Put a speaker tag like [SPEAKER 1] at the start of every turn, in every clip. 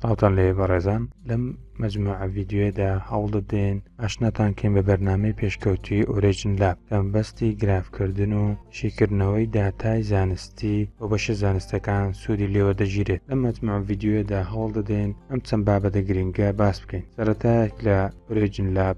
[SPEAKER 1] ساڵتان لێ بەڕێزان لەم مجموع ڤیددیوێدا هەوڵدەدەین ئاشناتان کەین بە بەرنمەی پێشکەوتوی ئۆرێژن لە کەمبەستی گرافکردن و شیکردنەوەی داتای زانستی و بەشە زانستەکان سوودی لێوە دەگیرێت لە مجموع ڤیددیوێدا هەوڵدەدەین ئەم چەند بابەتە گرنگە باس بکەین سەرەتایەک لە ئۆرێژن لاب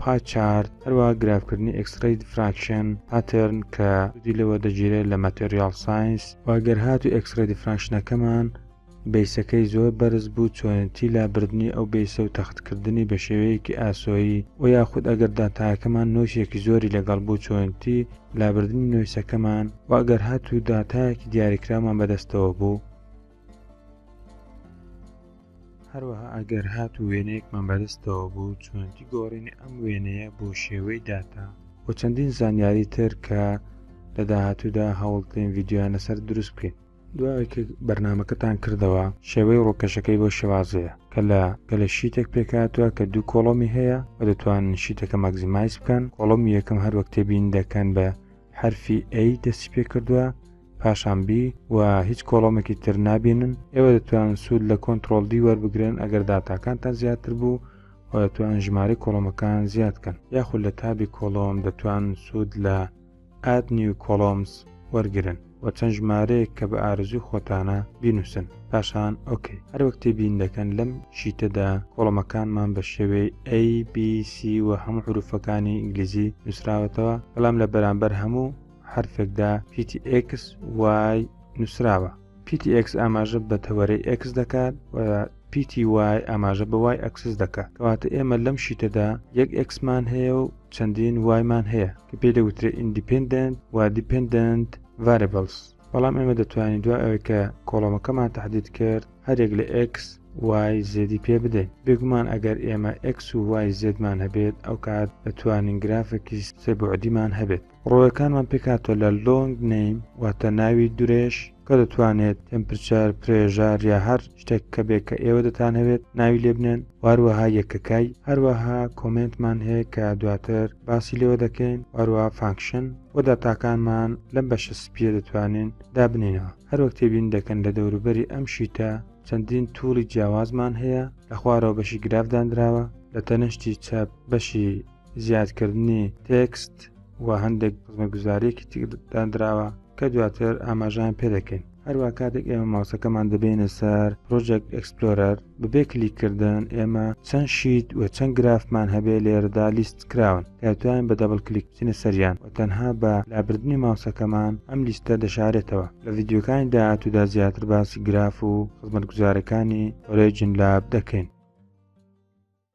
[SPEAKER 1] پای چارت، هەروەها گرافکردنی ئێکسرەی دیفراکشن، پاتێرن، کە سودی لێوە دەگیرێت لە ماتێریاڵ ساینس، و گەر هاتوو ئێکسرەی دیفراکشنەکەمان بەیسەکەی زۆر بەرز بوو چۆنێتی لابردنی ئەو بەیسە و تەختکردنی بە شێوەیەکی ئاسۆیی، وە یاخود ئەگەر داتایەکەمان نۆیسێکی زۆری لەگەڵ بوو چۆنێتی لابردنی نۆیسەکەمان، وە گەر هاتوو داتایەکی دیاریکراومان بەدەستەوە بوو. هەروەها ئەگەر هاتوو وێنەیەکمان بەدەستەوە بوو چۆنەتی گۆڕینی ئەم وێنەیە بۆ شێوەی داتا و چەندین زانیاری تر کە لە داهاتوودا هەوڵتێن ڤیددیویان لەسەر دروست بکەین دوای کە بەرنمەکەتان کردەوە شێوەی ڕووکەشەکەی بۆ شێوازەیە کە لە گەلە شیتێک پێکاتوە کە دوو کۆڵۆمی هەیە و دەتوان شیتەکە ماگزیمایز بکەن کۆڵۆمی یەکەم هەروەک تێبین دەکەن بە حرفی ئەی دەستی پێ کردووە پاشان B و هیچ کۆڵۆمێکی تر نابینن ئێوە دەتوانن سوود لە کۆنتترۆل دی وەربگرن ئەگەر داتاکانتان زیاتر بوو و دەتوانن ژماری کۆڵۆمەکان زیادکەن یاخود لە تابی کۆڵۆم دەتوان سوود لە ئاد نیو کۆڵۆمس وەرگن و چەند ژمارەیەک کە بە ئارزوی خۆتانە بینوسن پاشان ئۆکەی هەر وەکتی بین دەکەن لەم شیتەدا کۆڵمەکانمان بە شێوەی ABC و هەموو حروفەکانی ئینگلیزی نووسراوەتەوە بەڵام لە بەرامبەر هەموو حرفێکدا PTX وای نووسراوە PTX ئاماژە بە تەوەرەی X دەکات و پیتی وای ئاماژە بەوای ئەکسس دەکە کەواتە ئێمە لەم شیتەدا یەک ئەکسمان هەیە و چەندین وایمان هەیە کە پێ دەوترێت ئیندیپندنت و دیپندنت ڤاربلس بەڵام ئێمە دەتوانین دوای ئەوەی کە کۆڵۆمەکەمان تهدید کرد هەرێک لە X وای زێدی پێ بدەین بێگومان ئەگەر ئێمە X و وای زێدمان هەبێت ئەو کات دەتوانین گرافێکی سێبعدیمان هەبێت ڕۆڵەکانمان پێکهاتووە لە Long Name واتە ناوی درێژ کە دەتوانێت تێمپرچەر، پرێژار یا هەر شتێک کە بێ کە ئێوە دەتانهەوێت ناوی لێبنێن واروەها یەکەکەی هەروەها کۆمێنتمان هەیە کە دواتر باسی لێوە دەکەین واروەها فانکشن و داتاکانمان لەم بەشە سپیە دەتوانین دابنینەوە هەروەک تێبین دەکەن لە دەوروبەری ئەم شیتە چەندین توڵی جیاوازمان هەیە لە خوارەوە بەشی گرافدانراوە لە تەنشتی چەپ بەشی زیادکردنی تێکست و هەندێک خزمەتگوزاریەکی تێکدانراوە کە دواتر ئاماژان پێدەکەین هەروە کاتێک ئێمە ماوسەکەمان دەبێنە سەر پرۆژێک ئەکسپلۆرەر بەبێ کلیکردن ئێمە چەند شیت و چەند گرافمان هەبێ لێرەدا لیست کراون کاتوان بە دەبڵ کلیک بچینە سەریان و تەنها بە لابردنی ماوسەکەمان ئەم لیستە دەشارێتەوە لە ڤیددیوکانی داهاتوودا زیاتر باسی گراف و خزمەتگوزارەکانی ئۆرێجین لاب دەکەین